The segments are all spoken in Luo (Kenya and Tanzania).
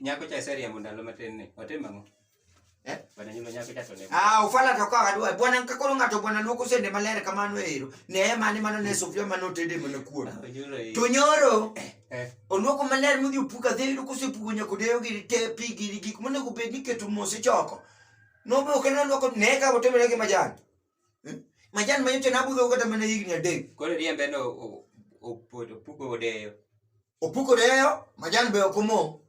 Nyako cha seriambo ndalo matin ni. Otim ang'o? Eh? Bwana nyulo nyako cha to ne. Ah, ufala to ka adwa. Bwana kakoro ng'ato bwana luoko sende maler kamano ero. Ne ema ni mano ne sufria mano tede mana kuon. Onyulo i. To nyoro Eh. oluoko maler modhi opuka dhi yudo kosepuko nyako deyo gi te pi gi gik monego bed ni keto mos ichoko. Nobe ok en oluoko ne ka otimre gi majan. Eh? Majan ma nyocha nabudho kata mana higni adek. Koro riembe no o- o- opuko odeyo. Opuko deyo, majan be ok omo.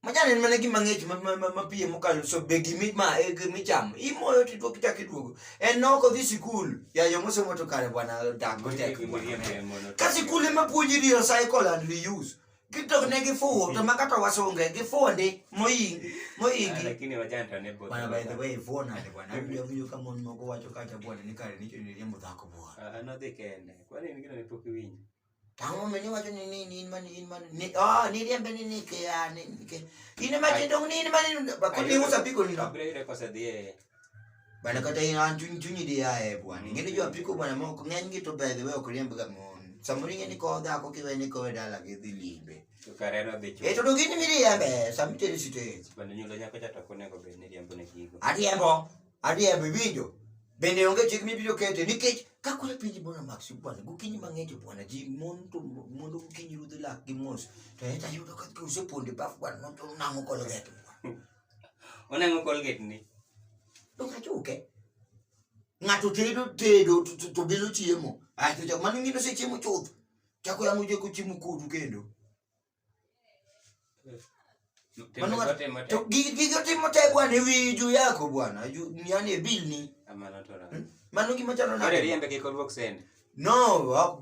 Majan en mana gima ng'ich mapiye mokalo so be gimi ma e gimichamo. Imoyo to iduogo ichako iduogo. En nok odhi sikul. Ya yo mosomo to kare bwana dak gotek. Ka sikul ema puonji ni recycle and reuse. Kitok ne gifuwo to makata wasunge gifuwo ndi moyingi moyingi. Lakini wajana to ne Bwana by the way fuwo nade bwana. Abiro winjo ka mon moko wacho kacha bwana ni kare nicho ni riembo dhako bwana. Anodhi kende. Kwani en gino ne pok iwinjo? Tang'o mene wacho ni ni ni in mani in mani ni oh ni riembe ni ni ke ya ni ni ke. Ine ma tindo ni in mani ba ko ni usa piko ni. Kabla ile kosa dhie. Bana kata in an chunyi chunyi di ya e bwana. Ngine jo piko bwana mo ko ng'eny gi to by the way ok riembe ga mon. Samuri ng'eni ko da ko kiwe ni ko dala gi dhi limbe. Tukareno dhi chuo. E to dogini mi riembe samite ni site. Bende nyulo nyako cha to konego bed ni riembo ne gigo. Ariembo. Adier biwinjo. Bende onge chik mibiro kete nikech ka koro piny bora mak si bwana gokinyi mang'eny to bwana ji mon to mondo gokinyi rudhi lak gi mos to en tayudo ka oseponde baf bwana mon to nang'o kolget bwana. Onang'o kolget ni. To ka chuke. Ng'ato tedo tedo to- to- to bilo chiemo. Ae to jok mane ng'ino osechiemo chuth. Chako yamo jeko chiemo kodu kendo. gigotimo te bwana ewi juu yako bwana yani ebilni hmm? mano gima chalo no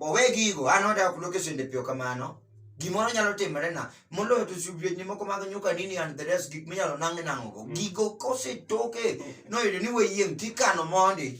owe gigo an odak kuloke sende piyo kamano gimoro nyalo timore na moloyo to subietni moko mag nyuka nini and the rest gik minyalo nang' nang'ogo hmm. gigo kosetoke noyudo ni weyieng' tikano mondi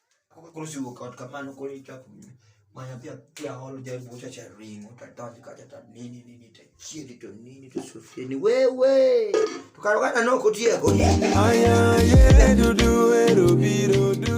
Koro siwuok ot kamano koro ichako manya pia pia holo jaribu kucha cha ringo tatani kacha ta nini nini ta chiri to nini to sofia ni wewe tukarogana noko tiego Aya ye dudu ero biro du